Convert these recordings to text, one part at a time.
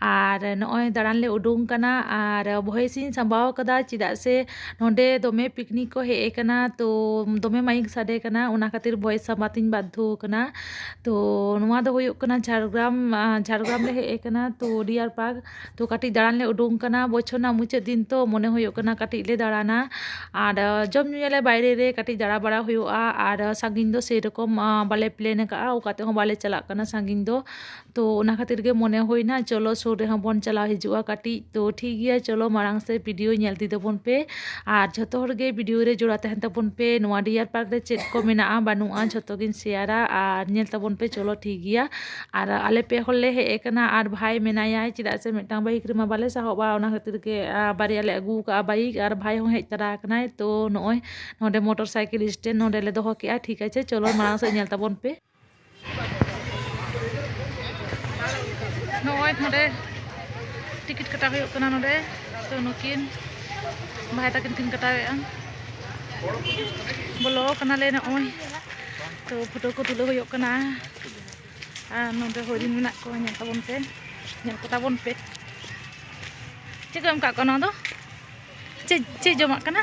ᱟᱨ ᱱᱚᱜᱼᱚᱭ ᱫᱟᱬᱟᱱ ᱞᱮ ᱩᱰᱩᱝ ᱠᱟᱱᱟ ᱟᱨ ᱵᱷᱚᱭᱮᱥ ᱤᱧ ᱥᱟᱢᱵᱟᱣ ᱠᱟᱫᱟ ᱪᱮᱫᱟᱜ ᱥᱮ ᱱᱚᱸᱰᱮ ᱫᱚᱢᱮ ᱯᱤᱠᱱᱤᱠ ᱠᱚ ᱦᱮᱡ ᱠᱟᱱᱟ ᱛᱚ ᱫᱚᱢᱮ ᱢᱟᱭᱤᱠ ᱥᱟᱰᱮ ᱠᱟᱱᱟ ᱚᱱᱟ ᱠᱷᱟᱹᱛᱤᱨ ᱵᱷᱚᱭᱮᱥ ᱥᱟᱵ ᱠᱟᱛᱮᱧ ᱵᱟᱫᱽᱫᱷᱚ ᱠᱟᱱᱟ ᱛᱚ ᱱᱚᱣᱟ ᱫᱚ ᱦᱩᱭᱩᱜ ᱠᱟᱱᱟ ᱡᱷᱟᱲᱜᱨᱟᱢ ᱡᱷᱟᱲᱜᱨᱟᱢ ᱞᱮ ᱦᱮᱡ ᱠᱟᱱᱟ ᱛᱚ ᱰᱤᱭᱟᱨ ᱯᱟᱨᱠ ᱛᱚ ᱠᱟᱹᱴᱤᱡ ᱫᱟᱬᱟᱱ ᱞᱮ ᱩᱰᱩᱝ ᱠᱟᱱᱟ ᱵᱚᱪᱷᱚᱨ ᱨᱮᱱᱟᱜ ᱢᱩᱪᱟᱹᱫ ᱫᱤᱱ ᱛᱚ ᱢᱚᱱᱮ ᱦᱩᱭᱩᱜ ᱠᱟᱱᱟ ᱠᱟᱹᱴᱤᱡ ᱞᱮ ᱫᱟᱬᱟᱱᱟ ᱟᱨ ᱡᱚᱢ ᱧᱩᱭᱟᱞᱮ ᱵᱟᱭᱨᱮ ᱨᱮ ᱠᱟᱹᱴᱤᱡ ᱫᱟᱬᱟ ᱵᱟᱲᱟ ᱦᱩᱭᱩᱜᱼᱟ ᱟᱨ ᱥᱟᱺᱜᱤᱧ ᱫᱚ ᱥᱮᱭ ᱨᱚᱠᱚᱢ ᱵᱟᱞᱮ ᱯᱞᱮᱱ ᱠᱟᱜᱼᱟ ᱚᱠᱟ ᱛᱮᱦᱚᱸ ᱵᱟᱞᱮ ᱪᱟᱞᱟᱜ ᱠᱟᱱᱟ ᱥᱟᱺᱜᱤᱧ ᱫᱚ ᱛᱚ ᱚᱱᱟ ᱠᱷᱟᱹᱛᱤᱨ ᱜᱮ ᱢᱚᱱᱮ ᱦᱩᱭᱱᱟ ᱪᱚᱞᱚ ᱥᱩᱨ ᱨᱮᱦᱚᱸ ᱵᱚᱱ ᱪᱟᱞᱟᱣ ᱦᱤᱡᱩᱜᱼᱟ ᱠᱟᱹᱴᱤᱡ ᱛᱚ ᱴᱷᱤᱠ ᱜᱮᱭᱟ ᱪᱚᱞᱚ ᱢᱟᱲᱟᱝ ᱥᱮᱫ ᱵᱷᱤᱰᱤᱭᱳ ᱧᱮᱞ ᱤᱫᱤ ᱛᱟᱵᱚᱱ ᱯᱮ ᱟᱨ ᱡᱷᱚᱛᱚ ᱦᱚᱲ ᱜᱮ ᱵᱷᱤᱰᱤᱭᱳ ᱨᱮ ᱡᱚᱲᱟᱣ ᱛᱟᱦᱮᱱ ᱛᱟᱵᱚᱱ ᱯᱮ ᱱᱚᱣᱟ ᱰᱤᱭᱟᱨ ᱯᱟᱨᱠ ᱨᱮ ᱪᱮᱫ ᱠᱚ ᱢᱮᱱᱟᱜᱼᱟ ᱵᱟᱹᱱᱩᱜᱼᱟ ᱡᱷᱚᱛᱚ ᱜᱤᱧ ᱥᱮᱭᱟᱨᱟ ᱟᱨ ᱧᱮᱞ ᱛᱟᱵᱚᱱ ᱯᱮ ᱪᱚᱞᱚ ᱴᱷᱤᱠ ᱜᱮᱭᱟ ᱟᱨ ᱟᱞᱮ ᱯᱮ ᱦᱚᱲ ᱞᱮ ᱦᱮᱡ ᱠᱟᱱᱟ ᱟᱨ ᱵᱷᱟᱭ ᱢᱮᱱᱟᱭᱟ ᱪᱮᱫᱟᱜ ᱥᱮ ᱢᱤᱫᱴᱟᱝ ᱵᱟᱭᱤᱠ ᱨᱮᱢᱟ ᱵᱟᱞᱮ ᱥᱟᱦᱚᱵᱼᱟ ᱚᱱᱟ ᱠᱷᱟᱹᱛᱤᱨ ᱜᱮ ᱵᱟᱨᱭᱟ ᱞᱮ ᱟᱹᱜᱩ ᱠᱟᱜᱼᱟ ᱵᱟᱭᱤᱠ ᱟᱨ ᱵᱷᱟᱭ ᱦᱚᱸ ᱦᱮᱡ ᱛᱟᱨᱟ ᱠᱟᱱᱟᱭ ᱛᱚ ᱱᱚᱜᱼᱚᱭ ᱱᱚᱰᱮ ᱢᱚᱴᱚᱨ ᱥᱟᱭᱠᱮᱞ ᱥᱴᱮᱱᱰ ᱱᱚᱰᱮᱞᱮ ᱫᱚᱦᱚ ᱠᱮᱜᱼᱟ ᱴᱷᱤᱠ ᱟᱪᱷᱮ ᱪᱚᱞᱚ ᱢᱟᱲᱟᱝ ᱥᱮᱫ ᱧᱮᱞ ᱛᱟᱵᱚᱱ ᱯᱮ ᱱᱚᱜᱼᱚᱭ ᱱᱚᱰᱮ ᱴᱤᱠᱤᱴ ᱠᱟᱴᱟᱣ ᱦᱩᱭᱩᱜ ᱠᱟᱱᱟ ᱱᱚᱰᱮ ᱛᱚ ᱱᱩᱠᱤᱱ ᱵᱷᱟᱭ ᱛᱟᱹᱠᱤᱱ ᱠᱤᱱ ᱠᱟᱴᱟᱣᱮᱫᱼᱟ ᱵᱚᱞᱚ ᱠᱟᱱᱟᱞᱮ ᱱᱚᱜᱼᱚᱭ ᱛᱚ ᱯᱷᱳᱴᱳ ᱠᱚ ᱛᱩᱞᱟᱹᱣ ᱦᱩᱭᱩᱜ ᱠᱟᱱᱟ ᱟᱨ ᱱᱚᱰᱮ ᱦᱚᱨᱤᱱ ᱢᱮᱱᱟᱜ ᱠᱚᱣᱟ ᱧᱮᱞ ᱛᱟᱵᱚᱱ ᱯᱮ ᱧᱮᱞ ᱠᱚ ᱛᱟᱵᱚᱱ ᱯᱮ ᱪᱮᱫ ᱠᱚ ᱮᱢ ᱠᱟᱜ ᱠᱚᱣᱟ ᱱᱚᱣᱟ ᱫᱚ ᱪᱮᱫ ᱪᱮᱫ ᱡᱚᱢᱟᱜ ᱠᱟᱱᱟ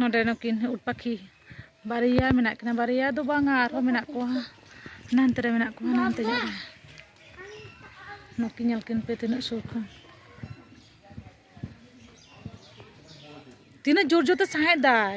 ᱱᱚᱰᱮ ᱱᱩᱠᱤᱱ ᱩᱴ ᱯᱟᱠᱷᱤ ᱵᱟᱨᱭᱟ ᱢᱮᱱᱟᱜ ᱠᱤᱱᱟ ᱵᱟᱨᱭᱟ ᱫᱚ ᱵᱟᱝᱟ ᱟᱨᱦᱚᱸ ᱢᱮᱱᱟᱜ ᱠᱚᱣᱟ ᱱᱟᱱᱛᱮ ᱨᱮ ᱢᱮᱱᱟᱜ ᱠᱚᱣᱟ ᱱᱟᱱᱛᱮ ᱧᱚᱜ ᱨᱮ ᱱᱩᱠᱤᱱ ᱧᱮᱞ ᱠᱤᱱ ᱯᱮ ᱛᱤᱱᱟᱹᱜ ᱥᱩᱨ ᱠᱷᱚᱱ ᱛᱤᱱᱟᱹᱜ ᱡᱳᱨ ᱡᱳᱨ ᱛᱮ ᱥᱟᱦᱮᱸᱫ ᱫᱟᱭ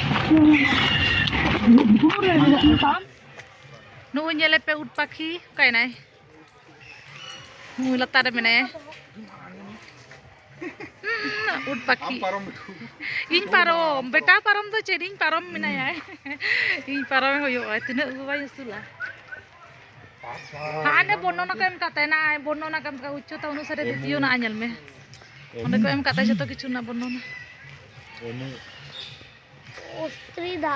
ᱱᱩᱭ ᱧᱮᱞᱮ ᱯᱮ ᱩᱴ ᱯᱟᱠᱷᱤ ᱚᱠᱟᱭᱱᱟᱭ ᱱᱩᱭ ᱞᱟᱛᱟᱨ ᱨᱮ ᱢᱮᱱᱟᱭᱟ ᱩᱴ ᱯᱟᱠᱷᱤ ᱤᱧ ᱯᱟᱨᱚᱢ ᱵᱮᱴᱟ ᱯᱟᱨᱚᱢ ᱫᱚ ᱪᱮᱫ ᱤᱧ ᱯᱟᱨᱚᱢ ᱢᱮᱱᱟᱭᱟ ᱤᱧ ᱯᱟᱨᱚᱢ ᱦᱩᱭᱩᱜᱼᱟ ᱛᱤᱱᱟᱹᱜ ᱵᱟᱭ ᱩᱥᱩᱞᱟ ᱦᱟᱸᱰᱮ ᱵᱚᱨᱱᱚᱱᱟ ᱠᱚ ᱮᱢ ᱠᱟᱜ ᱛᱟᱦᱮᱱᱟ ᱵᱚᱨᱱᱚᱱᱟ ᱠᱟᱢ ᱠᱟ ᱩᱪᱪᱚᱛᱟ ᱚᱱᱩᱥᱟᱨᱮ ᱫᱤᱛᱤᱭᱚ ᱱᱟ ᱧᱮᱞ ᱢᱮ ᱚᱸᱰᱮ ᱠᱚ ᱮᱢ ᱠᱟᱜ ᱛᱟᱦᱮᱸ ᱡᱚᱛᱚ ᱠᱤᱪᱷᱩ ᱨᱮᱱᱟᱜ ᱵᱚᱨᱱᱚᱱᱟ ᱚᱥᱛᱨᱤᱫᱟ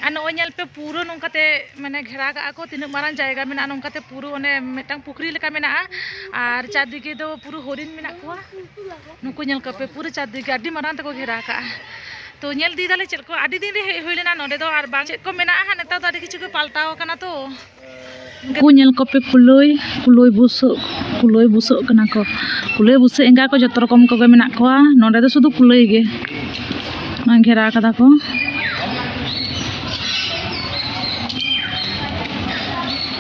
ᱟᱨ ᱱᱚᱜᱼᱚᱭ ᱧᱮᱞ ᱯᱮ ᱯᱩᱨᱟᱹ ᱱᱚᱝᱠᱟᱛᱮ ᱢᱟᱱᱮ ᱜᱷᱮᱨᱟ ᱠᱟᱜᱼᱟ ᱠᱚ ᱛᱤᱱᱟᱹᱜ ᱢᱟᱨᱟᱝ ᱡᱟᱭᱜᱟ ᱢᱮᱱᱟᱜᱼᱟ ᱱᱚᱝᱠᱟᱛᱮ ᱯᱩᱨᱟᱹ ᱚᱱᱮ ᱢᱤᱫᱴᱟᱝ ᱯᱩᱠᱷᱨᱤ ᱞᱮᱠᱟ ᱢᱮᱱᱟᱜᱼᱟ ᱟᱨ ᱪᱟᱨᱫᱤᱠᱮ ᱫᱚ ᱯᱩᱨᱟᱹ ᱦᱚᱨᱤᱱ ᱢᱮᱱᱟᱜ ᱠᱚᱣᱟ ᱱᱩᱠᱩ ᱧᱮᱞ ᱠᱚᱯᱮ ᱯᱩᱨᱟᱹ ᱪᱟᱨᱫᱤᱠᱮ ᱟᱹᱰᱤ ᱢᱟᱨᱟᱝ ᱛᱮᱠᱚ ᱜᱷᱮᱨᱟ ᱠᱟᱜᱼᱟ ᱛᱚ ᱧᱮᱞ ᱤᱫᱤ ᱫᱟᱞᱮ ᱪᱮᱫ ᱠᱚ ᱟᱹᱰᱤ ᱫᱤᱱ ᱨᱮ ᱦᱮᱡ ᱦᱩᱭ ᱞᱮᱱᱟ ᱱᱚᱰᱮ ᱫᱚ ᱟᱨ ᱵᱟᱝ ᱪᱮᱫ ᱠᱚ ᱢᱮᱱᱟᱜᱼᱟ ᱦᱟᱸᱜ ᱱᱮᱛᱟᱨ ᱫᱚ ᱟᱹᱰᱤ ᱠᱤᱪᱷᱩ ᱜᱮ ᱯᱟᱞᱴᱟᱣ ᱟᱠᱟᱱᱟ ᱛᱚ ᱩᱱᱠᱩ ᱧᱮᱞ ᱠᱚᱯᱮ ᱠᱩᱞᱟᱹᱭ ᱠᱩᱞᱟᱹᱭ ᱵᱩᱥᱟᱹᱜ ᱠᱩᱞᱟᱹᱭ ᱵᱩᱥᱟᱹᱜ ᱠᱟᱱᱟ ᱠᱚ ᱠᱩᱞᱟᱹᱭ ᱵᱩᱥᱟᱹᱜ ᱮᱸᱜᱟ ᱠᱚ ᱡᱚᱛᱚ ᱨᱚᱠᱚᱢ ᱠᱚᱜᱮ ᱢᱮᱱᱟᱜ ᱠᱚᱣᱟ ᱱᱚᱰᱮ ᱫᱚ ᱥᱩᱫᱷᱩ ᱠᱩᱞᱟᱹᱭ ᱜᱮ ᱜᱷᱮᱨᱟ ᱠᱟᱫᱟ ᱠᱚ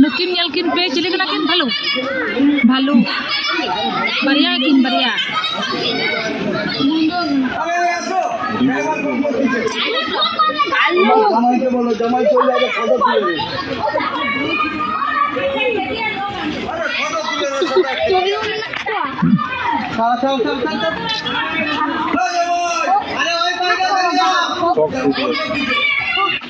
ᱱᱩᱠᱤᱱ ᱧᱮᱞ ᱠᱤᱱ ᱯᱮ ᱪᱤᱞᱤ ᱠᱟᱱᱟ ᱠᱤᱱ ᱵᱷᱟᱞᱩ ᱵᱷᱟᱞᱩ ᱵᱟᱨᱭᱟ ᱠᱤᱱ ᱵᱟᱨᱭᱟ Thank you.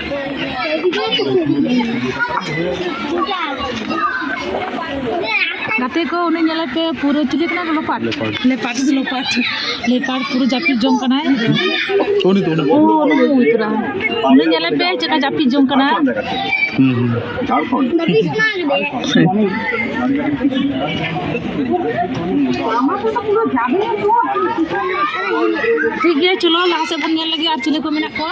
ᱜᱟᱛᱮ ᱠᱚ ᱩᱱᱤ ᱧᱮᱞᱮ ᱯᱮ ᱯᱩᱨᱟᱹ ᱪᱤᱞᱤ ᱠᱟᱱᱟ ᱠᱚ ᱞᱚᱯᱟᱴ ᱞᱮᱯᱟᱴ ᱥᱮ ᱞᱚᱯᱟᱴ ᱞᱮᱯᱟᱴ ᱯᱩᱨᱟᱹ ᱡᱟᱹᱯᱤᱫ ᱡᱚᱝ ᱠᱟᱱᱟᱭ ᱩᱱᱤ ᱫᱚ ᱩᱱᱤ ᱳ ᱩᱱᱤ ᱫᱚ ᱩᱛᱨᱟ ᱩᱱᱤ ᱧᱮᱞᱮ ᱯᱮ ᱪᱮᱠᱟ ᱡᱟᱹᱯᱤᱫ ᱡᱚᱝ ᱠᱟᱱᱟ ᱴᱷᱤᱠ ᱜᱮᱭᱟ ᱪᱚᱞᱚ ᱞᱟᱦᱟ ᱥᱮᱫ ᱵᱚᱱ ᱧᱮᱞ ᱞᱟᱹᱜᱤᱫ ᱟᱨ ᱪᱤᱞᱤ ᱠᱚ ᱢᱮᱱᱟᱜ ᱠᱚᱣᱟ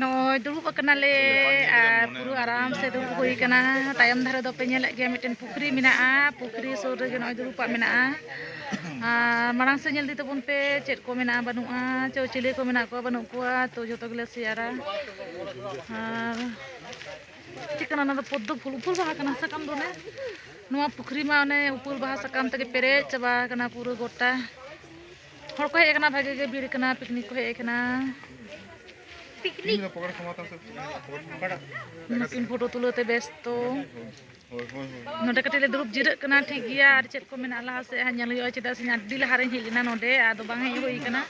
ᱱᱚᱜᱼᱚᱭ ᱫᱩᱲᱩᱵ ᱟᱠᱟᱱᱟᱞᱮ ᱟᱨ ᱯᱩᱨᱟᱹ ᱟᱨᱟᱢ ᱥᱮ ᱫᱩᱲᱩᱵ ᱦᱩᱭ ᱟᱠᱟᱱᱟ ᱛᱟᱭᱚᱢ ᱫᱷᱟᱨᱮ ᱫᱚᱯᱮ ᱧᱮᱞᱮᱫ ᱜᱮᱭᱟ ᱢᱤᱫᱴᱮᱱ ᱯᱩᱠᱷᱨᱤ ᱢᱮᱱᱟᱜᱼᱟ ᱯᱩᱠᱷᱨᱤ ᱥᱩᱨ ᱨᱮᱜᱮ ᱱᱚᱜᱼᱚᱭ ᱫᱩᱲᱩᱵᱟᱜ ᱢᱮᱱᱟᱜᱼᱟ ᱟᱨ ᱢᱟᱲᱟᱝ ᱥᱮᱫ ᱧᱮᱞ ᱤᱫᱤ ᱛᱟᱵᱚᱱ ᱯᱮ ᱪᱮᱫ ᱠᱚ ᱢᱮᱱᱟᱜᱼᱟ ᱵᱟᱹᱱᱩᱜᱼᱟ ᱪᱚ ᱪᱤᱞᱤ ᱠᱚ ᱢᱮᱱᱟᱜ ᱠᱚᱣᱟ ᱵᱟᱹᱱᱩᱜ ᱠᱚᱣᱟ ᱛᱚ ᱡᱚᱛᱚ ᱜᱮᱞᱮ ᱥᱮᱭᱟᱨᱟ ᱟᱨ ᱪᱮᱫ ᱠᱟᱱᱟ ᱚᱱᱟ ᱫᱚ ᱯᱚᱫᱽᱫᱚ ᱯᱷᱩᱞ ᱩᱯᱩᱞ ᱵᱟᱦᱟ ᱠᱟᱱᱟ ᱥᱟᱠᱟᱢ ᱫᱚ ᱚᱱᱮ ᱱᱚᱣᱟ ᱯᱩᱠᱷᱨᱤ ᱢᱟ ᱚᱱᱮ ᱩᱯᱩᱞ ᱵᱟᱦᱟ ᱥᱟᱠᱟᱢ ᱛᱮᱜᱮ ᱯᱮᱨᱮᱡ ᱪᱟᱵᱟ ᱟᱠᱟᱱᱟ ᱯᱩᱨᱟᱹ ᱜᱚᱴᱟ ᱦᱚᱲ ᱠᱚ ᱦᱮᱡ ᱟᱠᱟᱱᱟ ᱵᱷᱟᱜᱮ ᱜᱮ ᱵᱷᱤᱲ ᱠᱟᱱᱟ ᱯᱤᱠᱱᱤᱠ ᱠᱚ ᱦᱮᱡ ᱟᱠᱟᱱᱟ ᱱᱩᱠᱤᱱ ᱯᱷᱳᱴᱳ ᱛᱩᱞᱟᱹᱣ ᱛᱮ ᱵᱮᱥᱛᱚ ᱱᱚᱰᱮ ᱠᱟᱹᱴᱤᱡ ᱞᱮ ᱫᱩᱲᱩᱵ ᱡᱤᱨᱟᱹᱜ ᱠᱟᱱᱟ ᱴᱷᱤᱠ ᱜᱮᱭᱟ ᱟᱨ ᱪᱮᱫ ᱠᱚ ᱢᱮᱱᱟᱜᱼᱟ ᱞᱟᱦᱟ ᱥᱮᱫ ᱦᱟᱸᱜ ᱧᱮᱞ ᱦᱩᱭᱩᱜᱼᱟ ᱪᱮᱫᱟᱜ ᱥᱮ ᱟᱹᱰᱤ ᱞᱟᱦᱟ ᱨᱮᱧ ᱦᱮᱡ ᱞᱮᱱᱟ ᱱᱚᱰᱮ ᱟᱫᱚ ᱵᱟᱝ ᱦᱮᱡ ᱦᱩᱭ ᱠᱟᱱᱟ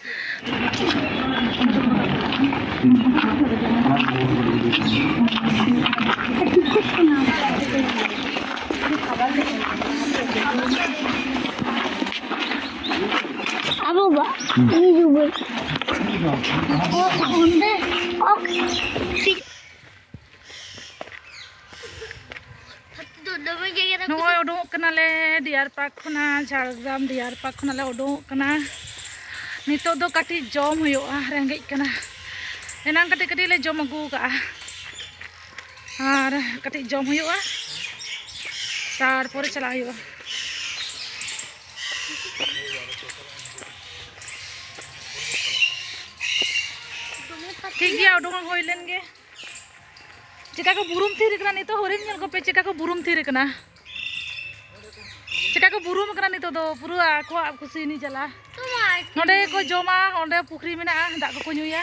ᱱᱚᱜᱼᱚᱭ ᱩᱰᱩᱝᱚᱜ ᱠᱟᱱᱟᱞᱮ ᱰᱤᱭᱟᱨ ᱯᱟᱨᱠ ᱠᱷᱚᱱᱟᱜ ᱡᱷᱟᱲᱜᱨᱟᱢ ᱰᱤᱭᱟᱨ ᱯᱟᱨᱠ ᱠᱷᱚᱱᱟᱜ ᱞᱮ ᱩᱰᱩᱝᱚᱜ ᱠᱟᱱᱟ ᱱᱤᱛᱚᱜ ᱫᱚ ᱠᱟᱹᱴᱤᱡ ᱡᱚᱢ ᱦᱩᱭᱩᱜᱼᱟ ᱨᱮᱸᱜᱮᱡ ᱠᱟᱱᱟ ᱮᱱᱟᱝ ᱠᱟᱹᱴᱤᱡ ᱠᱟᱹᱴᱤᱡ ᱞᱮ ᱡᱚᱢ ᱟᱹᱜᱩ ᱠᱟᱜᱼᱟ ᱟᱨ ᱠᱟᱹᱴᱤᱡ ᱡᱚᱢ ᱦᱩᱭᱩᱜᱼᱟ ᱛᱟᱨᱯᱚᱨᱮ ᱪᱟᱞᱟᱜ ᱦᱩᱭᱩᱜᱼᱟ ᱴᱷᱤᱠ ᱜᱮᱭᱟ ᱩᱰᱩᱝ ᱦᱩᱭ ᱞᱮᱱ ᱜᱮ ᱪᱮᱠᱟ ᱠᱚ ᱵᱩᱨᱩᱢ ᱛᱷᱤᱨ ᱠᱟᱱᱟ ᱱᱤᱛᱚᱜ ᱦᱚᱨᱤᱱ ᱧᱮᱞ ᱠᱚᱯᱮ ᱪᱮᱠᱟ ᱠᱚ ᱵᱩᱨᱩᱢ ᱛᱷᱤᱨ ᱠᱟᱱᱟ ᱪᱮᱠᱟ ᱠᱚ ᱵᱩᱨᱩᱢ ᱠᱟᱱᱟ ᱱᱤᱛᱚᱜ ᱫᱚ ᱯᱩᱨᱟᱹ ᱟᱠᱚᱣᱟᱜ ᱠᱩᱥᱤ ᱱᱤ ᱡᱟᱞᱟ ᱱᱚᱰᱮ ᱠᱚ ᱡᱚᱢᱟ ᱚᱸᱰᱮ ᱯᱩᱠᱷᱨᱤ ᱢᱮᱱᱟᱜᱼᱟ ᱫᱟᱜ ᱠᱚᱠᱚ ᱧᱩᱭᱟ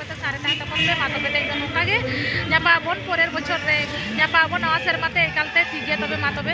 ᱥᱟᱨᱮ ᱛᱟᱦᱮᱱ ᱛᱟᱵᱚᱱ ᱯᱮ ᱢᱟ ᱛᱚᱵᱮ ᱛᱮᱦᱮᱧ ᱫᱚ ᱱᱚᱝᱠᱟ ᱜᱮ ᱧᱟᱯᱟᱢ ᱟᱵᱚᱱ ᱯᱚᱨᱮᱨ ᱵᱚᱪᱷᱚᱨ ᱨᱮ ᱧᱟᱯᱟᱢ ᱟᱵᱚᱱ ᱱᱟᱣᱟ ᱥᱮᱨᱢᱟ ᱛᱮ ᱮᱠᱟᱞ ᱛᱮ ᱴᱷᱤᱠ ᱜᱮᱭᱟ ᱛᱚᱵᱮ ᱢᱟ ᱛᱚᱵᱮ